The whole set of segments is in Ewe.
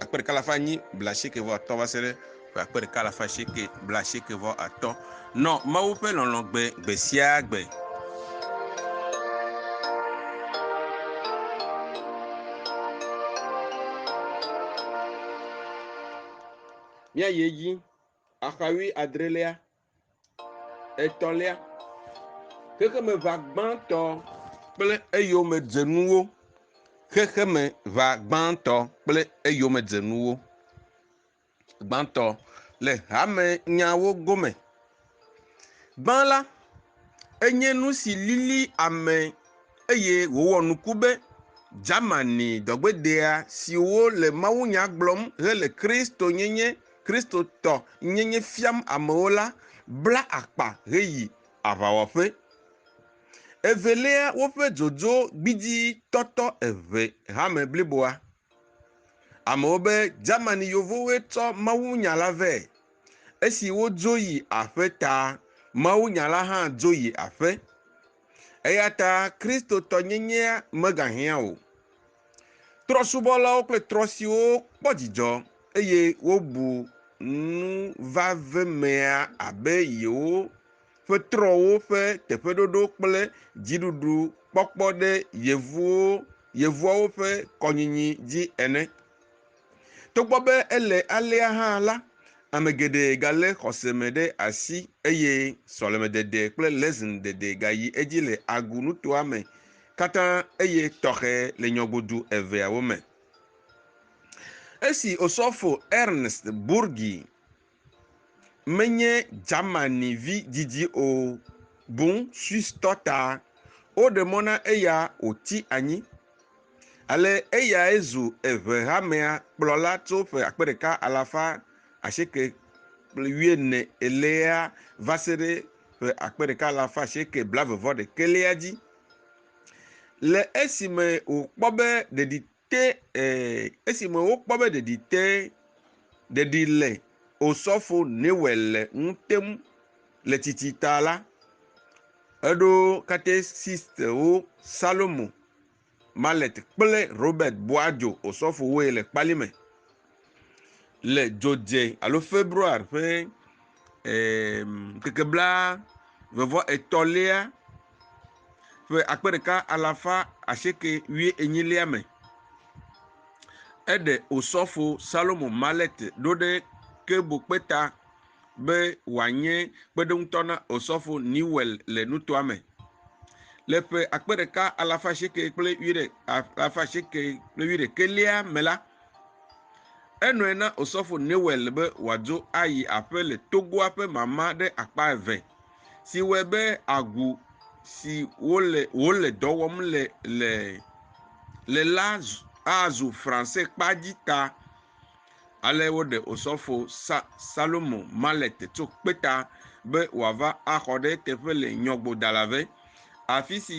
akpe ɖeka alafa enyi blaasieke vɔ atɔ̃ va se ɖe ƒe akpe ɖeka alafa asieke blaasieke vɔ atɔ̃. Nɔ Mawu ƒe lɔlɔ̃ gbe gbe sia gbe. Míayi edzi. Axawui adrelea. Etɔ̃lia, xexemeʋa gbãtɔ kple eyomedzenuwo. Xexemeʋa gbãtɔ kple eyomedzenuwo. Gbãtɔ le hamenyawo gome. Gbã la, enye nu si lili ame eye wòwɔ nuku be Germany dɔgbedea siwo le mawunya gblɔm hele Kristonyenye, Kristotɔ nyenye fiam amewo la bla akpa heyi aʋawɔƒe. Evelia, woƒe dzodzo gbidzi tɔtɔ eŋe hame bliboa. Amewo be Germany Yevowoe tsɔ mawunya la vɛ. Esi wodzo yi aƒe ta, mawunya la hã dzo yi aƒe. Eya ta Kristotɔnyenyea megahiã o. Trɔ̃subɔlawo kple trɔ̃ siwo kpɔ dzidzɔ eye wobu nu vavemea abe yewo ƒe trɔ̃wo ƒe teƒeɖoɖo kple dziɖuɖu kpɔkpɔ ɖe yevuwo, yevuawo ƒe kɔnyinyi dzi ene. Togbɔ be ele alea hã la, ame geɖe galé xɔse me ɖe asi eye sɔlemedede kple lɛsin dede gayi edzi le Agu nutoa me katã eye tɔxɛ le nyɔgodu eveawo me. Esi Osɔfo Ernst Burgi menye Germanivi didi o, boŋ Swistɔ ta. Woɖe mɔ na eya wòti anyi, ale eyae zu Eŋehamea kplɔla tso ƒe akpe ɖeka alafa asieke kple wuiene elia va se ɖe ƒe akpe ɖeka alafa asieke blaeve-vɔ-ɖekɛlia dzi. Le esime wòkpɔ be ɖeɖi Te esime wokpɔ be ɖeɖi te, ɖeɖi le Osɔfo Newell le ŋu tem le tsitsi ta la, eɖo katesistwo Salomo Mallet kple Robert Boajo Osɔfowoe le kpali me. le dzodze alo february ƒe ŋkeke bla eve vɔ etɔ̃lia ƒe akpe ɖeka alafa asieke wui enyilia me. Eɖe osɔfo Salomo Malet ɖo ɖe Kebo kpeta be wòanye kpeɖeŋutɔ na osɔfo Newell le nutoa me. Le ƒe akpe ɖeka alafa asieke kple wui ɖe alafa asieke kple wui ɖekelia me la, Enɔe na Osɔfo Newell be wòadzo ayi aƒe le togoa ƒe mama ɖe akpa eve, si wɔe be agu si wole wòle dɔ wɔm le le le la azu Franse kpa dzi ta. Ale woɖe Osɔfo Sa Salomo Mallet tso kpeta be wòava axɔ ɖe eteƒe le Nyɔgbodalave, afisi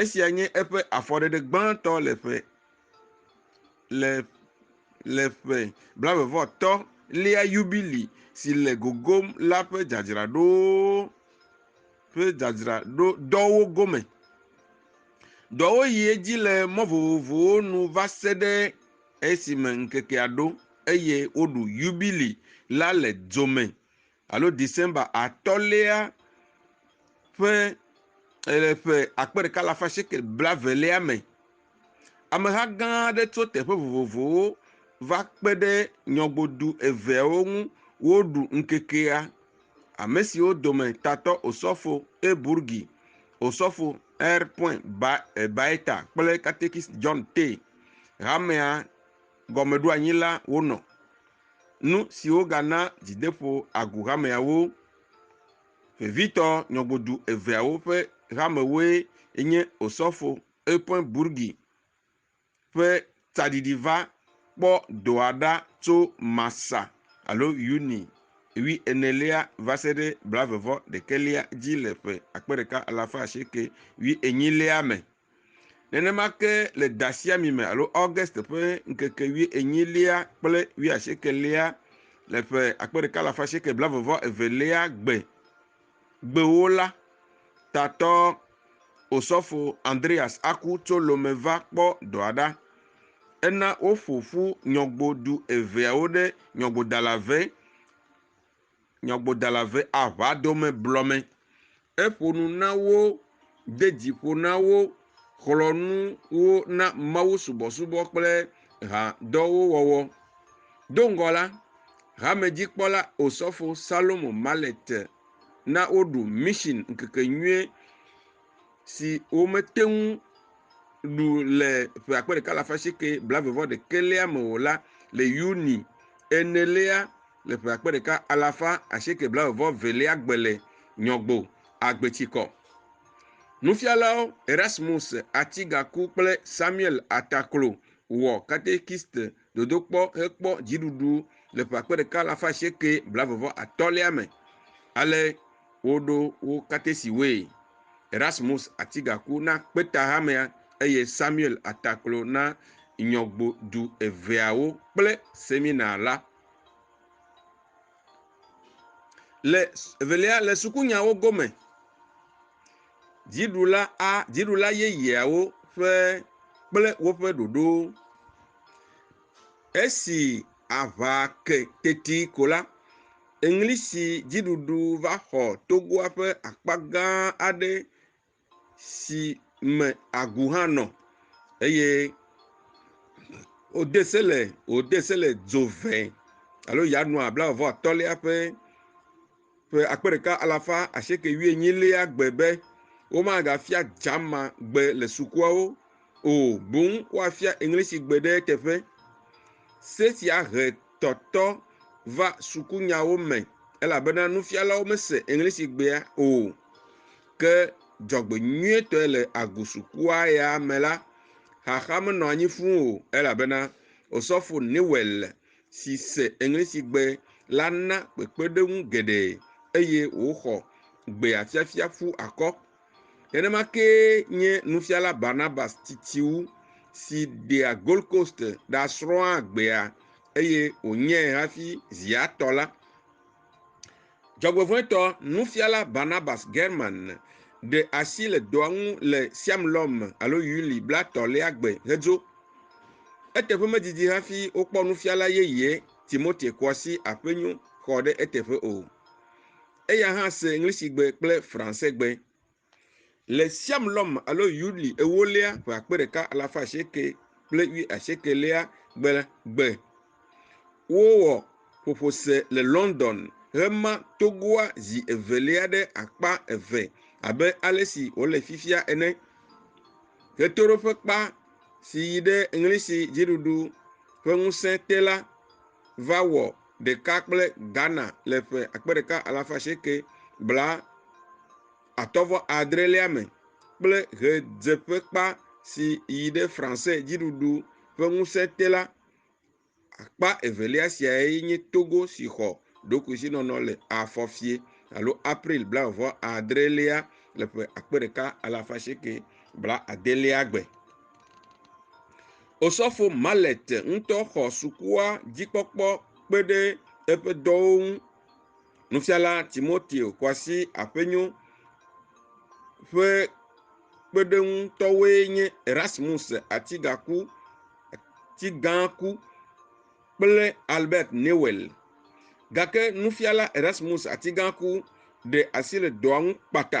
Esia nye eƒe afɔɖeɖe gbãtɔ le ƒe le le ƒe blaevevɔtɔ lia yubili si le gogom la ƒe dzadzraɖo ƒe dzadzraɖo dɔwo gome. Dɔwo yi edzi le mɔ vovovowo nu va se ɖe esime ŋkekea ɖo eye woɖu yubili la le dzo me. alo December atɔ̃lia ƒe le ƒe akpe ɖeka alafa shekel blaevelia me. Ameha gã aɖe tso teƒe vovovowo va kpe ɖe nyɔgodu eveawo ŋu woɖu ŋkekea. Ame siwo dome tatɔ Osɔfo E. Burgi, Osɔfo R. Point Baeta kple Katekist John Tay, hamea gɔmeɖoanyila wonɔ. Nu siwo gana dzideƒo agu hameawo. Vevitɔ nyɔgodu eveawo ƒe hamewoe nye Osɔfo Euphoin Bourgi ƒe tsaɖiɖi va kpɔ dɔa ɖa tso Marsa alo Yuni ʋi enelia va se ɖe blaeve-vɔ-ɖekɛlia dzi le ƒe akpe ɖeka alafa asieke ʋi enyilia me. Nenema ke le dasiami me alo August ƒe ŋkeke wui enyilia kple wui asiekelia le ƒe akpe ɖeka le afa asieke blavɔvɔ evelia gbe gbewo la tatɔ osɔfo Andreas aku tso Lome va kpɔ dɔa ɖa. Ena woƒo ƒu nyɔgbodu eveawo ɖe nyɔgbodala ve nyɔgbodala ve aʋa dome blɔmɛ. Eƒo nu na wo, de dzi ƒo na wo, xlɔ nu wo na Mawu subɔsubɔ kple hadɔwo wɔwɔ. Do ŋgɔ la, hamedzikpɔla Osɔfo Salomo Mallet na woɖu Mission ŋkekenyuie si womete ŋu ɖu le ƒe akpe ɖeka alafa asieke blaeve vɔ ɖekɛlia me o la le Yuni enelia Le ƒe akpe ɖeka alafa asieke blaeve-vɔ-evelia gbe le Nyɔgbo Agbetsikɔ. Nufialawo Erasmus Atigaku kple Samuel Ataklo wɔ katekist dodokpɔ hekpɔ dziɖuɖu le ƒe akpe ɖeka alafa asieke blaeve-vɔ-atɔ̃lia me. Ale woɖo wo katesiwoe. Erasmus Atigaku na kpetahamea eye Samuel Ataklo na nyɔgbo du eveawo kple semina la. Le evelia le sukunyawo gome, dziɖula a dziɖula yeyeawo ƒe kple woƒe ɖoɖo. Esi aŋa ke teti ko la, Eŋlisidziɖuɖu va xɔ togoa ƒe akpa gã aɖe. si me agu hã nɔ eye wode se le wode se le dzo ve alo Yanuar blaeve atɔ̃lia ƒe ƒe akpe ɖeka alafa asieke wuienyilia gbe be womagafia German gbe le sukuawo o boŋ woafia English gbe ɖe eteƒe. Se sia he tɔtɔ va sukunyawo me elabena nufialawo mese Eŋlisigbea o. Ke dzɔgbenyuietɔe le agosukua ya me la, xaxa menɔ anyi fũ o elabena Osɔfo Newell si se Eŋlisigbe la na kpekpeɖeŋu geɖe eye wòxɔ gbeafiafia ƒu akɔ. Nenema kee nye nufiala Barnabas titiwu si ɖea Gold Coast ɖa srɔ̃a agbea eye wònyae hafi zi atɔ la. Dzɔgbevɔ̃etɔ nufiala Barnabas German ɖe asi le dɔa ŋu le Siam Lɔm alo Yuli blatɔ̃lia gbe hedzo. Eteƒe medidi hafi wokpɔ nufiala yeye Timote Kɔasi Aƒenyo xɔ ɖe eteƒe o. Eya hã se Ŋlisigbe kple Fransegbe. Le Siam Lɔm alo Yuli ewolia ƒe akpe ɖeka alafa asieke kple wi asiekelia gbe gbe. Wowɔ ƒoƒo se le London hema togoa zi evelia ɖe akpa eve abe ale si wòle fifia ene. Ɣetoɖoƒekpa si yi ɖe Ŋlisi dziɖuɖu ƒe ŋusẽ te la va wɔ ɖeka kple Ghana le ƒe akpe ɖeka alafa asieke bla atɔ̃ vɔ adrelia me kple ɣedzeƒekpa si yi ɖe Fransé dziɖuɖu ƒe ŋusẽ te la. Akpa evelia siae nye Togo si xɔ ɖokuisinɔnɔ le afɔfie alo April bla vɔ adrelia le ƒe akpe ɖeka alafa asieke bla adelia gbe. Osɔfo Mallet ŋutɔ xɔ sukua dzikpɔkpɔ kpe ɖe eƒe dɔwo ŋu. Nufiala Timoteo Kwasi Aƒenyo ƒe kpeɖeŋutɔwoe nye Erasmus Atigaku Atigaku kple Albert Newel. Gake nufiala Erasmus Atigaku ɖe asi le dɔa ŋu kpata.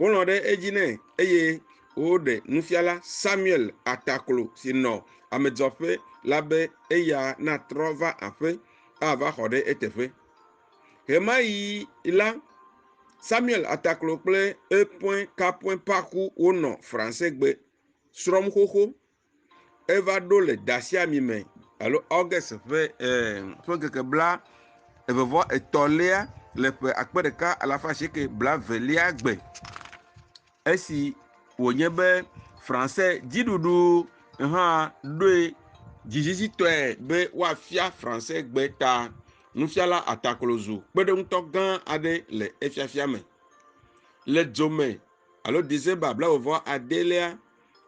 Wolɔ̃ ɖe edzi nɛ eye woɖe nufiala Samuel Ataklo si nɔ amedzɔƒe la be eya natrɔ va aƒe ava xɔ ɖe eteƒe. Ɣemaɣi la, Samuel Ataklo kple Epoin Kapoin Paku wonɔ Fransegbe srɔ̃m xoxo eva ɖo le ɖasiame me alo August ƒe ŋkeke bla eve vɔ etɔ lea le ƒe akpe ɖeka alafa asieke bla eve lea gbe esi wonye be Fransɛ dziɖuɖu hã ɖoe dzizizitɔe be woafia Fransɛ gbe ta. Nufiala ataklozu kpeɖeŋutɔ gã aɖe le efiafia me. Le dzome alo December bla eve vɔ ade lea,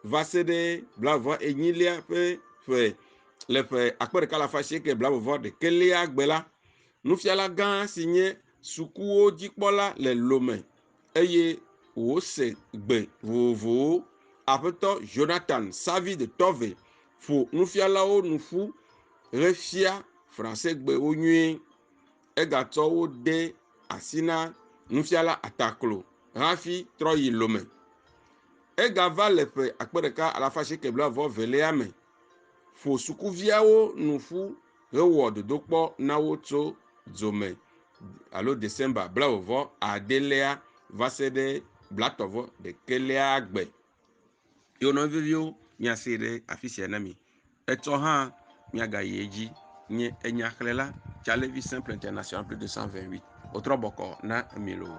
va se ɖe blaeve enyilia ƒe ƒe le ƒe akpe ɖeka le afa asieke blaeve ɖekelia gbe la, nufiala gã si nye sukuwo dzikpɔla le Lome eye wòse gbe vovovowo. Aƒetɔ Jonathan Savi de Tove ƒo nufialawo nu ƒu hefia Fransegbewo nyuie. Egatsɔ wo de asi na nufiala Ataklo hafi trɔ yi Lome. Egava le ƒe akpe ɖeka alafa asieke blaeve velia me ƒo sukuviawo nu ƒu hewɔ dodokpɔ na wo tso dzome alo December blaeve adelia va se ɖe blatɔ̃ ɖekelia gbe. Ye wònɔ veviwo miase ɖe afi sia na mi. Etsɔ hã miagayi edzi. Nye enyahlela Calevi Simple International plus de 128. Wotrɔ bɔkɔ na mi loo.